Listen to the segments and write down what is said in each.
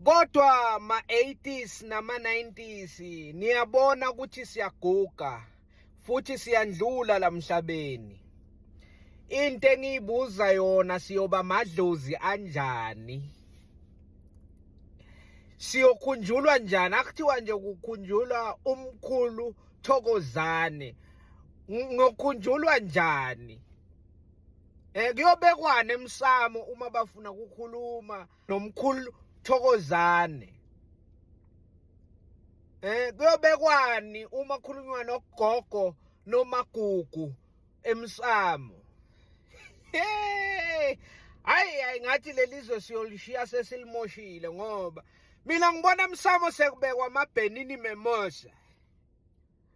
Kodwa ma 80s nama 90s niyabona ukuthi siyaguga futhi siyandlula lamhlabeni. Into engiyibuza yona siyoba madlozi anjani? Siyokhunjulwa njani? Akuthiwa nje kukhunjulwa umkhulu Thokozane. Ngokhunjulwa njani? Eh kuyobekwani emsamo uma bafuna kukhuluma nomkhulu Thokozane eh kuyobekwani uma khulunywa nogogo nomagugu emsamo hey hayi hayi ngathi lelizwe siyolishiya sesilimoshile ngoba mina ngibona emsamo sekubekwa amabhenini memosa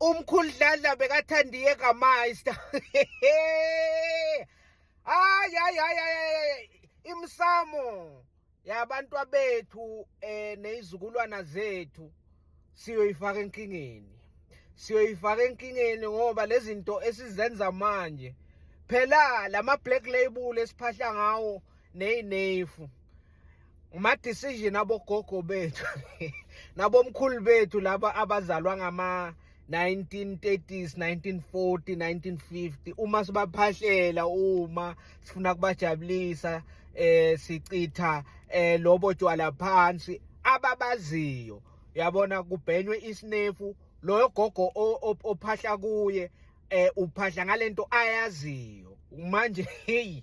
umkhulu dladla bekathandiye kamayista hayi hayi hayi imsamo yabantu abethu eh nezizukulwana zethu siyoyifaka enkingeni siyoyifaka enkingeni ngoba lezinto esizenza manje phela lama black label esiphahla ngawo neyinefu uma decision abogogo bethu nabomkhulu bethu laba abazalwa ngama 1930s 1940 1950 uma sibaphahlela uma sifuna kubajabulisa eh sichitha eh lobo tywala phansi ababaziyo yabona kubhenywe isinefu loyo gogo ophahla kuye eh uphahla ngalento ayaziyo manje hey